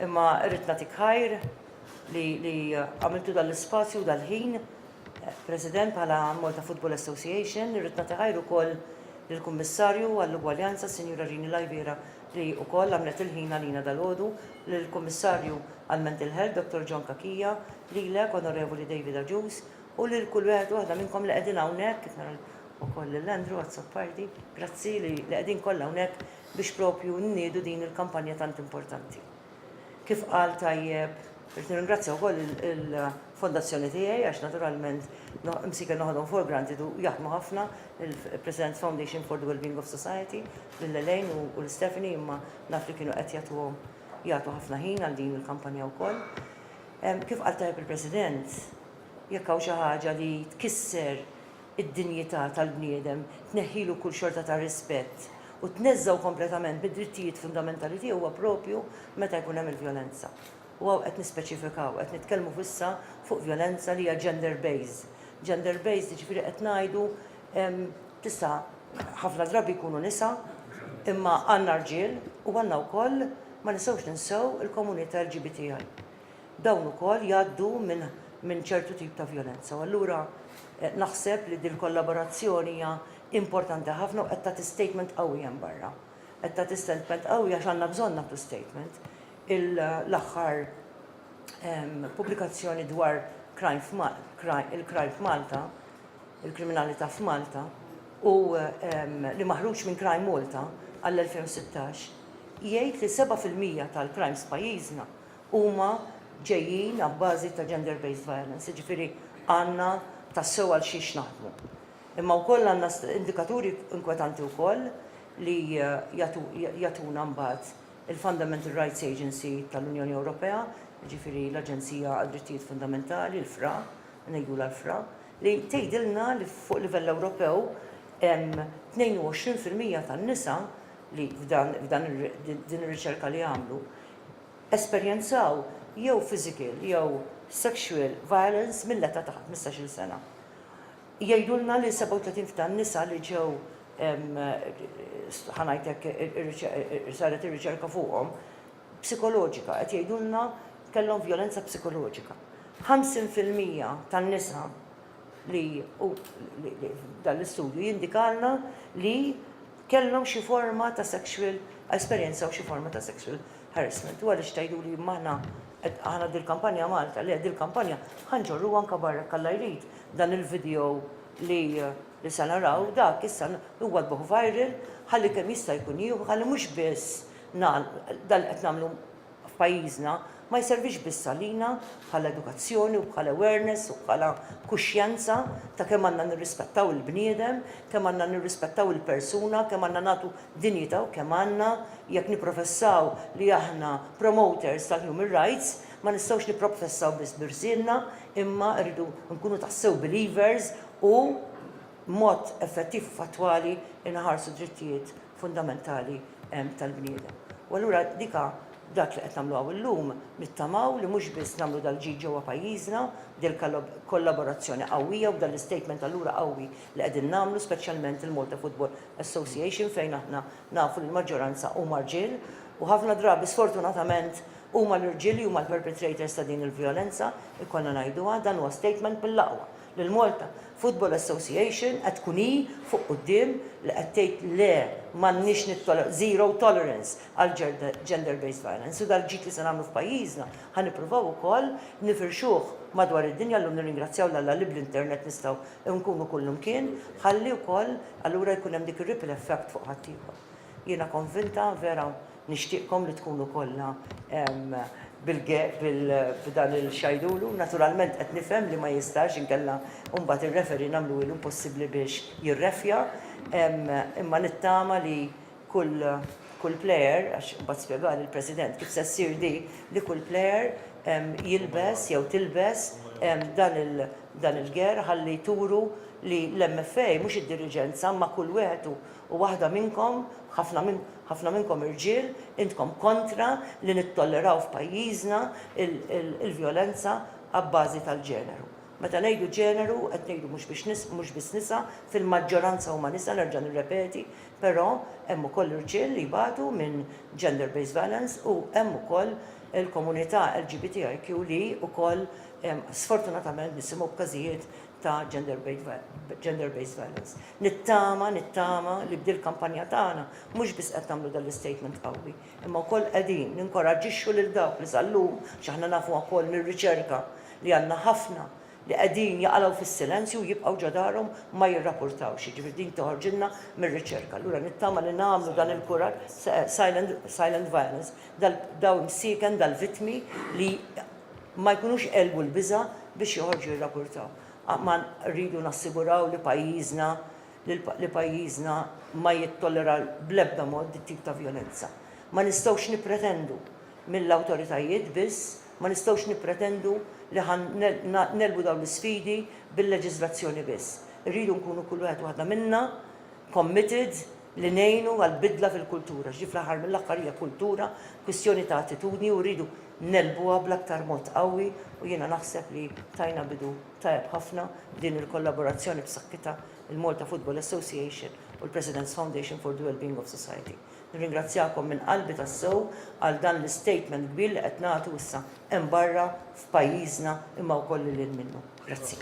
Imma rrid nagħtik ħajr li għamiltu dal-ispazju u dal-ħin President bħala Malta Football Association, rrid nagħti ħajr ukoll lill-Kummissarju għall-Ugwaljanza Sinjura Rini Lajbiera li wkoll għamlet il-ħin għalina dal-għodu, lill-Kummissarju għall-Mental Health Dottor John Cachia, lilek Onorevoli David Agius, U lil kull wieħed u waħda minnkom li qegħdin hawnhekk, kif nara wkoll lil Andrew Azzopardi, grazzi li qegħdin kollha hawnhekk biex proprju nniedu din il-kampanja tant importanti. Kif qal tajjeb, rrid nirringrazzja wkoll il-fondazzjoni tiegħi għax naturalment msiker noħodhom for granted u jaħdmu ħafna il-President's Foundation for the Wellbeing of Society lil Elaine u lil Stephanie imma naf li kienu qed jagħtuhom jagħtu ħafna ħin għal din il-kampanja wkoll. Kif qal tajjeb il-President, Jekk hawn xi ħaġa li tkisser id-dinjità tal-bniedem, tneħħilu kull xorta ta' rispett u tneżżgħu kompletament mid-drittijiet fundamentali tiegħu huwa proprju meta jkun hemm il-vjolenza. U hawn qed nispeċifikaw, qed nitkellmu f'issa fuq vjolenza li hija gender based. Gender based jiġifieri qed ngħidu tista' ħafna drabi jkunu nisa imma għandna rġiel u għandna wkoll ma nistgħux ninsew il-komunità LGBTI. dawn ukoll jgħaddu minn minn ċertu tip ta' vjolenza. U allura naħseb li dil-kollaborazzjoni hija importanti ħafna u qed tagħti statement qawwi hemm barra. Qed tagħti statement qawwi għax għandna bżonn nagħtu statement. L-aħħar pubblikazzjoni dwar crime f'Malta, il-crime f'Malta, il-kriminalità f'Malta, u li maħruġ minn Crime Malta għall-2016, jgħid li 7 fil-mija tal-crimes f'pajjiżna huma ġejjin abbażi ta' gender based violence, jiġifieri għandna tassew għal xiex naħdmu. Imma wkoll għandna indikaturi inkwetanti wkoll li jagħtuna mbagħad il-Fundamental Rights Agency tal-Unjoni Ewropea, jiġifieri l-Aġenzija għad-Drittijiet Fundamentali, l-FRA, ngħidulha l-FRA, li tgħidilna li fuq livell Ewropew hemm 22 fil-mija tan-nisa li f'dan din ir-riċerka li għamlu esperjenzaw jew physical jew sexual violence mill-età ta' ħmistax-il sena. Jgħidulna li 37 fil-mija tan-nisa li ġew, ħa ngħid hekk, saret ir-riċerka fuqhom, psikoloġika, qed jgħidulna kellhom vjolenza psikoloġika. 50 fil-mija tan-nisa li, dan l-istudju jindikalna li, kellhom xi forma ta' sexual esperjenzaw xi forma ta' sexual harassment. U għaliex tgħiduli imma aħna qed aħna dil-kampanja Malta, le dil-kampanja ħa nġorruha anke barra jekk Alla jrid, dan il-video li li se naraw dak issa huwa jbuh viral ħalli kemm jista' jkun jieħu ħalli mhux biss nagħlqu dan li qed nagħmlu f'pajjiżna ma jservix biss għalina bħala edukazzjoni u bħala awareness u bħala kuxjenza ta' kemm għandna nirrispettaw il-bniedem, kemm għandna nirrispettaw il-persuna, kemm għandna nagħtu dinjità u kemm għandna, jekk nipprofessaw li aħna promoters tal-human rights, ma nistgħux nipprofessaw biss b'irsienna imma rridu nkunu tassew believers u b'mod effettiv u fattwali nħarsu d-drittijiet fundamentali tal-bniedem. U allura dik ha dak li qed nagħmlu hawn illum, nittamaw li mhux biss nagħmlu dal-ġid ġewwa pajjiżna b'dil-kollaborazzjoni qawwija u b'dal-istatement allura qawwi li qegħdin nagħmlu speċjalment il-Malta Football Association fejn aħna nafu li l-maġġoranza huma rġiel u ħafna drabi sfortunatament huma l-irġiel li huma l-perpetrators ta' din il-vjolenza, ikollna ngħiduha, dan huwa statement mill-aqwa. l-Malta Football Association qed tkun hi fuq quddiem li qed tgħid le m'għandniex nittoleraw, zero tolerance għal gender based violence u dal-ġid li se nagħmlu f'pajjiżna ħa nippruvaw ukoll nifirxuh madwar id-dinja llum nirringrazzjaw 'l Alla li bl-internet nistgħu nkunu kullimkien ħalli wkoll allura jkun hemm dik ir-ripple effect fuq ħaddieħor. Jiena konvinta vera Nixtieqkom li tkunu kollha f'dan il-xajdulu. Naturalment qed nifhem li ma jistax inkella mbagħad ir-referee nagħmluhi l-impossibbli biex jirreffja. Imma nittama li kull player, għax imbagħad spjegali l-President kif se ssir di, li kull player jilbes jew tilbes dan il-gear ħalli turu li l-MFA mhux id-diriġenza imma kull wieħed u waħda minnkom, ħafna minnkom, Ħafna minnkom irġiel, intkom kontra li nittolleraw f'pajjiżna l-vjolenza abbażi tal-ġeneru. Meta ngħidu ġeneru qed ngħidu mhux biex nis, mhux biss nisa, fil-maġġoranza huma nisa nerġa' nirrepeti, però hemm ukoll irġiel li jbatu minn gender based violence u hemm ukoll il-komunità LGBTIQ li ukoll sfortunatament nisimgħu b'każijiet ta' gender based violence. Nittama, nittama li b'dil kampanja tagħna mhux biss qed nagħmlu dan l-istatement qawwi, imma wkoll qegħdin ninkoraġġixxu lil dawk li sal-lum, x'aħna nafuha wkoll mir-riċerka li għandna ħafna li qegħdin jaqalgħu fis-silenzju u jibqgħu ġo darhom ma jirrapurtawx, jiġifieri din toħorġilna mir-riċerka. Allura nittama li nagħmlu dan il-kuraġġ, silent violence, daw imsieken, dal-vittmi li ma jkunux għelbu l-biża' biex joħorġu jirrapurtaw. Rridu nassiguraw li pajjiżna li pajjiżna ma jittollera bl-ebda mod dit-tip ta' vjolenza. Ma nistgħux nippretendu mill-awtoritajiet biss, ma nistgħux nippretendu li ħa negħlbu dawn l-isfidi bil-leġiżlazzjoni biss. Irridu nkunu kull wieħed u waħda minna committed li ngħinu għall-bidla fil-kultura. X'di fl-aħħar mill-aħħar hija kultura, kwistjoni ta' attitudni u rridu ngħelbuha bl-aktar mod qawwi u jiena naħseb li tajna bidu tajjeb ħafna b'din il-kollaborazzjoni b'saħħitha, il-Malta Football Association u l-President's Foundation for the Wellbeing of Society. Nirringrazzjakom minn qalbi tassew għal dan l-istatement kbir li qed nagħtu issa hemm barra f'pajjiżna imma wkoll lil hinn minnu. Grazzi.